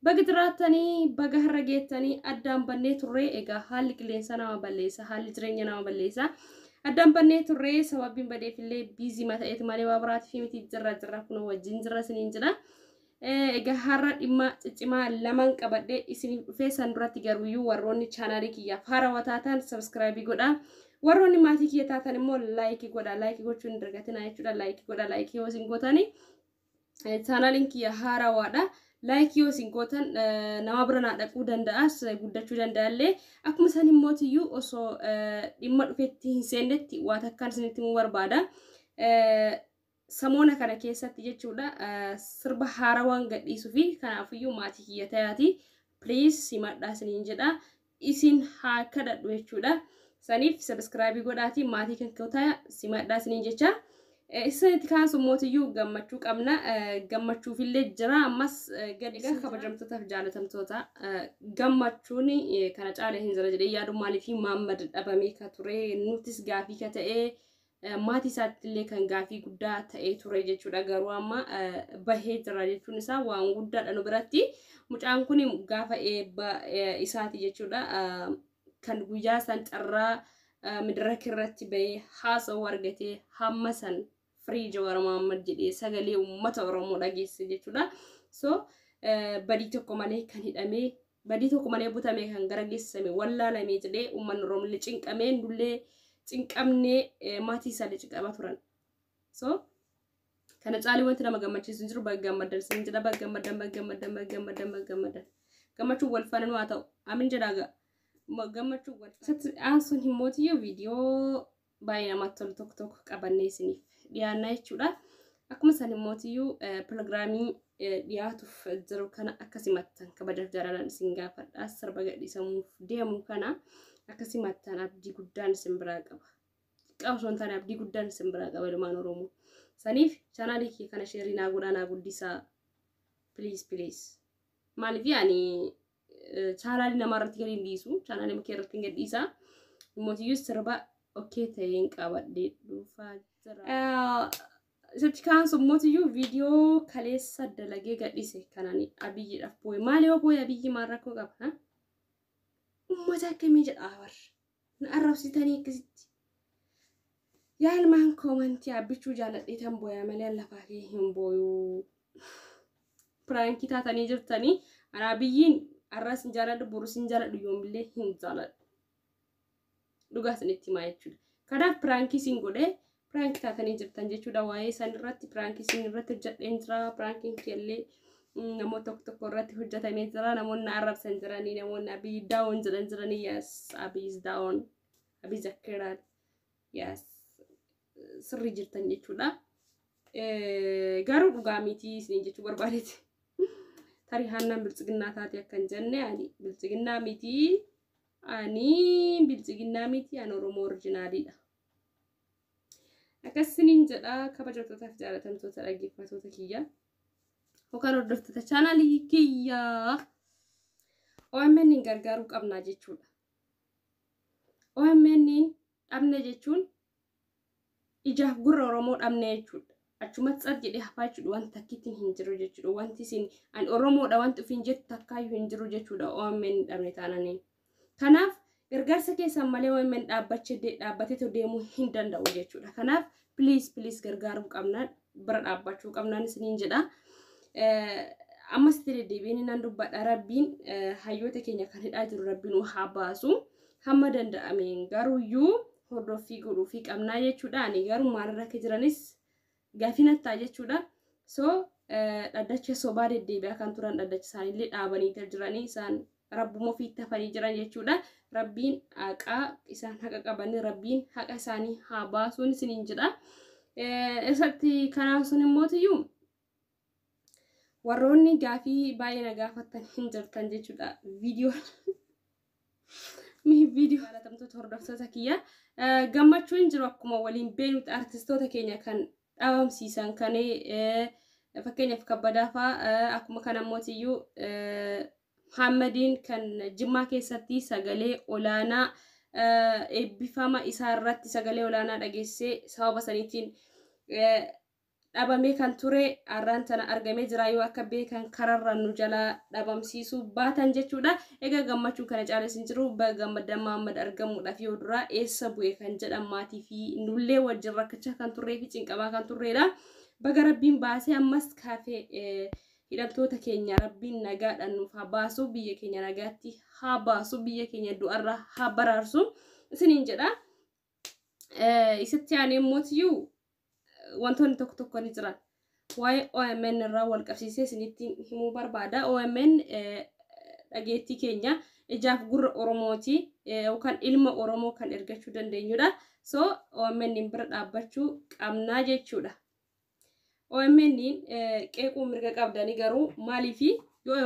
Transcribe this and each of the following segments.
Baga jiraattanii baga har'a geettanii addaan bannee turree egaa haalli qilleensaa nama balleessa haalli jireenya nama balleessa addaan bannee turree sababiin badeef illee biizii ma ta'eeti malee waa biraatiif miti jirra jirra kunoo wajjin jirra isiniin jira egaa har'a dhimma ciccimaa lamaan qabadhee isiniif dhufee san duratti garuuyyuu warroonni chaanaalii kiyyaaf haarawaa taatan sabiskiraayibii godha warroonni maatii kiyya taatan immoo laayikii godha laayikii gochuun hin dagatinaa jechuudha laayikii godha laayikii yoo isin gootanii Chaanaaliin kiyya haarawaadha. Laayikii yoo isin gootan nama bira naa dhaquu danda'as guddachuu danda'allee akkuma isaan hin mootiyyuu osoo dhimma dhufetti hin seennetti waa takkaan isinitti himuu barbaada. Samoona kana keessatti jechuudha sirba haarawaan gadhiisuu fi kanaafiyyuu maatii kiyya tayaati. Please simadhaa isiniin jedha. isin haa kadhadhu jechuudha. Saniif sabiskiraabii godhaatii maatii kan kootaa simadhaa isiniin jecha. Isinitti kaan summootiyyuu gammachuu qabna. Gammachuufillee jira ammas gadi. Egaa kabajamtootaaf jaalatamtoota gammachuun kana caala hin jira jedhee yaadu maaliif maammad dhabamee ka ture nutis gaafii ka ta'ee maatii isaatti illee kan gaafii guddaa ta'ee ture jechuudha. Garuu amma bahee jira jechuun isaa waan guddaadha nu biratti. Mucaan kun gaafa eebba isaati jechuudha. Kan guyyaa san carraa midiraka irratti bahee haasa'uu argatee hamma san firii Jawaar Mohaammed jedhee sagalee uummata Oromoo dhageesse jechuudha. So badii tokko malee kan hidhamee Badii tokko malee butamee kan gara geessisame wallaalamee jedhee uummanni Oromoollee cinqamee nullee cinqamnee eh, maatii isaallee cinqamaa turan. So kana caalii wanti nama gammachiisu hin jiru baga gammaddan isin jedha baga gammaddan baga gammaddan baga gammaddan baga gammaddan gammachuun wal faana nu haa ta'u amin jedhaa gaa. Ma- Gammachuun wal faana. Isatti aansuun himmootiyyu viidiyoo baay'ee namatti tolu tokko tokko qabannee isiniif dhiyaannaa jechuudha. Akkuma san immootiyyuu piroogiraamii dhiyaatuuf jiru kana akka simattan kabajaaf jaalalaan isin gaafadha. Sirba gadhiisamuuf deemu kana akka simattan abdii guddaan isin biraa qaba. Xiqqaa osoo hin taane abdii guddaan isin biraa qaba ilmaan Oromoo. Saniif chaanaalii kee kana sheerii naa godhaa naa guddisaa. Please please. Maaliif ani chaanaalii namaa irratti gadi hin dhiisu chaanaalii kee irratti hin gadhiisa mootiyyuu sirba okkee ta'een qabadhee dhuufaa jira. Isatti kaan sommootiyyu viidiyoo kaleessa dalagee gadhise kanaan abiyyiidhaaf booye maal yoo booye abiyyi maal rakkoo qaba ummata akkamii jedhaa bar na arrabsitanii akkasitti yaa ilmaan koomantii abbichuu jaaladheetan booyaa malee an lafaa kee hin booyuu piraankii taatanii jirtanii anaa biyyiin arras hin jaaladhu borus hin jaaladhu yoomillee hin jaaladhu dhugaa isinitti himaa jechuudha kanaaf piraankii isin godhee piraank taatanii jirtan jechuudha waa'ee isaan irratti piraankii isin irratti hojjedheen jira piraankiin keellee namoota tokko tokko irratti hojjetamee jira namoonni na arrabsan jiranii namoonni abiy daawon jedhan jiranii yes abiy is daawon abiy zakkeeraan yes sirrii jirtan jechuudha garuu dhugaa mitii isin jechuu barbaadeeti tarii haannaan biltsiginnaa taate akkan jenne ani biltsiginnaa mitii ani biltsiginnaa mitii an oromoo orjinaaliidha Akkas isiniin jedha kabajamtootaaf jaalatamtoota dhaggeeffattoota kiyya. Yookaan hordoftoota chaanaalii kiyya. OMN hin gargaaruu qabnaa jechuudha. OMN dhabne jechuun ijaaf gurra Oromoo dhabne jechuudha. Achumatti tsat jedhee hafaa jechuudha wanti takkittiin hin jiru jechuudha. Wanti isin an Oromoodha wanti ofiin jettu takkaayyuu hin jiru jechuudha OMN dhabne taananiin. Kanaaf gargaarsa keessan malee OMN dhaabbateetoo deemuu hin danda'u jechuudha. Kanaaf please please gargaaruu qabna bira dhaabbachuu qabnaan isiniin jedha. Ammas itti deddeebiin nan dubbadha rabbiin hayyoota keenya kan hidhaa jiru rabbiin nu haa baasu. Hamma danda'ameen garuuyyuu hordoffii godhuufii qabnaa jechuudha. Ani garuu maalirra akka jiranis gaafii natti ta'a jechuudha. So dhaddacha sobaa deddeebi'aa kan turan dhaddacha isaaniillee dhaabanii kan jiranii isaan rabbuma ofii itti hafanii jiran jechuudha. Rabbiin haqaa isaan haqa qabanii rabbiin haqa isaanii haa baasuun isiniin jedha. Isatti kanaan sun immoo tiyyuu warroonni gaafii baay'ee na gaafattan hin jirtan jechuudha viidiyoon viidiyoo jaalatamtoota hordoftoota kiyya gammachuu hin jiru akkuma waliin beenutti artistoota keenya kan dhabamsiisan kan fakkeenyaaf kabbadaafaa akkuma kana mootiyyuu Muhammadiin kan jimmaa keessatti sagalee olaanaa eebbifama isaa irratti sagalee olaanaa dhageessee sababa saniitiin dhabamee kan ture arraan tana argamee jira yoo akka beekan kararra nu jalaa dhabamsiisuu baatan jechuudha. Egaa gammachuun kana caalas hin jiru baga gammaddan Maammad argamuudhaaf yoo duraa eessa bu'e kan jedhan maatii fi nullee wajjin rakkachaa kan turree fi cinqamaa kan turreedha. Baga rabbiin baasee ammas kaafee eh, hidhamtoota keenya rabbiin nagaadhaan nuuf haa baasu biyya keenya nagaatti haa baasu biyya keenya du'arraa haa baraarsu isiniin jedha. Eh, Isatti aanee immoo tiyyuu eh, wantoonni tokko tokko ni jiran. Waa'ee OMN irraa wal qabsiisee isinitti himuu barbaada. OMN eh, dhageettii keenya ijaaf gurra Oromooti eh, yookaan ilma Oromoo kan ergachuu dandeenyudha. So OMN bira dhaabbachuu qabnaa jechuudha. OMN qeequu mirga qabdanii garuu maaliif yoo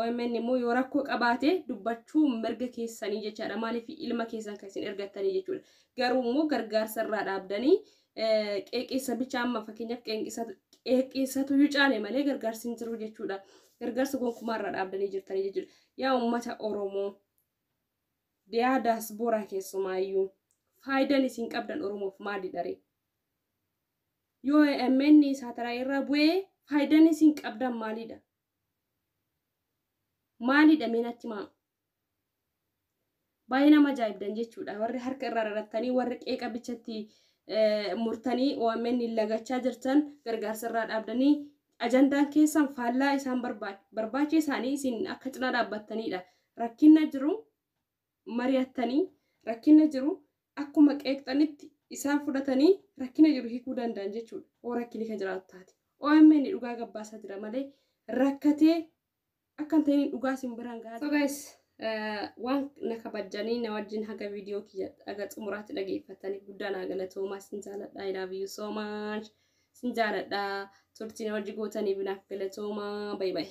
OMN immoo yoo rakkoo qabaate dubbachuu mirga keessanii jechaadha maaliif ilma keessan kan isin ergattanii jechuudha garuu immoo gargaarsa irraa dhaabdanii qeeqeessa bicha amma fakkeenyaaf qeeqeessatu yoo caale malee gargaarsi hin jiru jechuudha gargaarsa gonkumaa irraa dhaabdanii jirtanii jechuudha yaa uummata Oromoo yaa daasbooraa keessumaayyuu faayidaan isin qabdan Oromoof maali dharee Yoo AMN saatalaayii irraa bu'ee faayidaan isin qabdan maalidha? Maalidha mee natti himaa? Baay'ee nama ajaa'ibdan jechuudha. Warri harka irraa rarattanii warri qeeqa bichatti murtanii OMN lagachaa jirtan gargaarsa irraa dhaabdanii ajandaan keessan faallaa isaan barbaacha isaanii isin akka cinaa dhaabbattanidha. Rakkinna jiru mari'attanii rakkina jiru akkuma qeeqxanitti isaan fudhatanii rakkina jiru hikuu danda'an jechuudha oo rakkini ka jiraatu taate. OMN dhugaa gabbaasaa jira malee rakkatee akka hin ta'iniin dhugaa isin biraan gahaa So guys waan na kabajjanii na wajjin haga viidiyoo kiyya haga xumuraatti dhageeffattaniif guddaa naa galatoomaa isin jaaladha I love you so much isin jaaladha turtii na wajji gootaniif naaf galatoomaa bayi bayi.